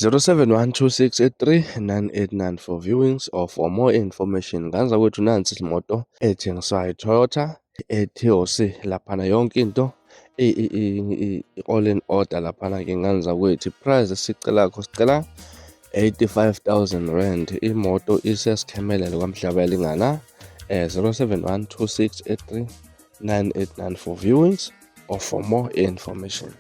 0712639894 for viewings or for more information nganza kwethu nansi imoto ethengiswayo iToyota eTOC laphana yonke into i-all in order laphana ke nganza kwethu price sicela kho sicela 85000 rand imoto isesikhemelele kwamhlaba yalingana eh 0712639894 viewings or for more information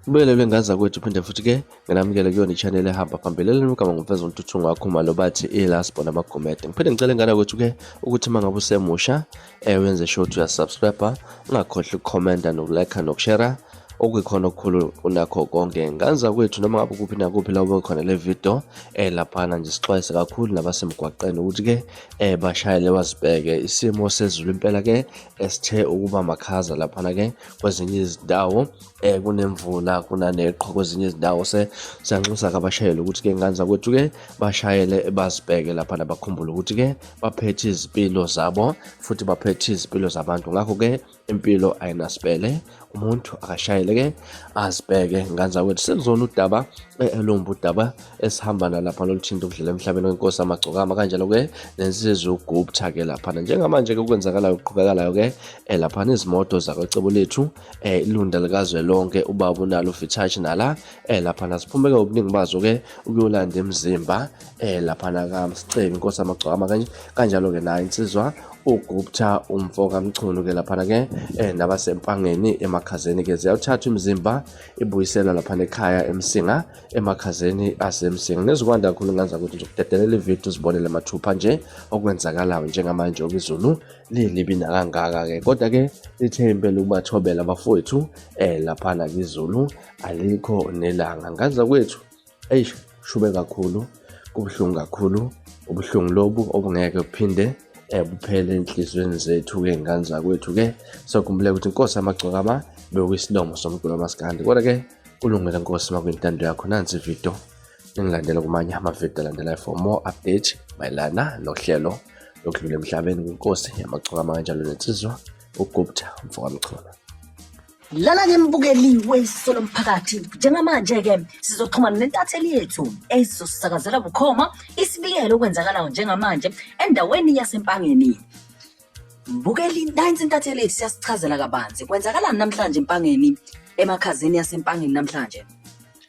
Ubelelwe ngaza kwethu phinde futhi ke nginamukele kuyona i-channel ehamba phambili elinugama ngumfeza untuthu ngakho uma lobathi ilasbo namagomede ngiphinde ngicela ngana kwethu ke ukuthi uma ngabe usemusha eh wenze sure ukuthi uyasubscribe ungakhohlwa ukukhomenta nokulike nokushare okuyikhona okukhulu kunakho konke nganza kwethu noma ngabe kuphi nakuphi la ube khona le video eh laphana nje sixwayise kakhulu nabasemgwaqeni ukuthi ke eh bashayele bazibheke isimo sezulu impela ke esithe ukuba makhaza laphana ke kwezinye izindawo eh kunemvula kunaneqhwa kwezinye izindawo se siyanxusa kabashayeli ukuthi ke nganza kwethu ke bashayele bazibheke laphana bakhumbule ukuthi ke baphethe izimpilo zabo futhi baphethe izimpilo zabantu ngakho ke impilo ayinasibele umuntu akashayele ke azibheke nganzakwethu sekuzona udaba eh, elumba udaba esihamba nalapha loluthinta ukudlela emhlabeni wenkosi amagcokama kanjalo ke nensizwa ugupta ke laphana njengamanje ke kwenzakalayo kuqhubekalayo ke eh, laphana izimoto zakwecebo lethu eh, ilunda likazwe lonke ubaba unalo ufithashi nala laphana siphumeke ubuningi bazo ke ukuyolanda emzimba eh laphana kamsicebi inkosi amagcwama kanje kanjalo ke naye insizwa ugupta umfo kamchunu ke laphana ke eh nabasempangeni emakhazeni ke ziyawuthatha imizimba ibuyisela laphana ekhaya emsinga emakhazeni asemsinga nezikwanda kakhulu ngenza ukuthi ngizokudedelela ividiyo uzibonele mathupha nje okwenzakalayo njengamanje okizulu lilibi nakangaka ke kodwa ke lithe impela ukubathobela abafowethu eh laphana kizulu alikho nelanga nganza kwethu eyi shube kakhulu kubuhlungu kakhulu ubuhlungu lobu obungeke buphinde um buphele enhliziyweni zethu-ke ngane zakwethu-ke sokhumbule ukuthi inkosi amagcokama bewuyisilomo somculo masikandi kodwa-ke kulungele nkosi makwintando yakho nansi ividiyo ningilandela kumanye amavidiyo alandelayo for more update mayelana nohlelo lokudlula emhlabeni kwinkosi yamagcokama kanjalo nensizwa ugupta mfokamchunu Lala ngembukeliwe isisolo mphakathi njengamanje-ke sizoxhumana nentatheli yethu ezosisakazela bukhoma isibiyelo okwenzakalayo njengamanje endaweni yasempangeni bukeli nansi intatheli yethu siyasichazela kabanzi kwenzakalani namhlanje empangeni emakhazeni yasempangeni namhlanje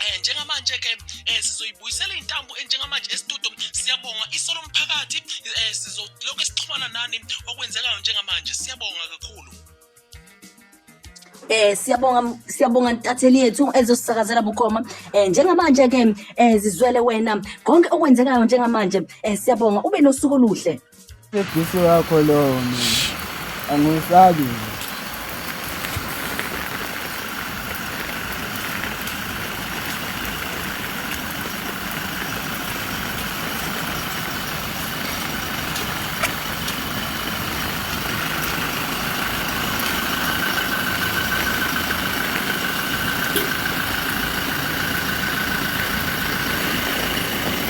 Eh njengamanje ke eh, sizoyibuyisela intambo enjengamanje eh, estudio siyabonga isolo mphakathi eh, sizolokho sixhumana nani okwenzekayo njengamanje siyabonga kakhulu eh siyabonga siyabonga ntatheli yethu ezosisakazela bukhoma eh njengamanje ke eh zizwele wena konke okwenzekayo njengamanje eh siyabonga ube nosuku oluhle Ubisi wakho lowo mina angiwusabi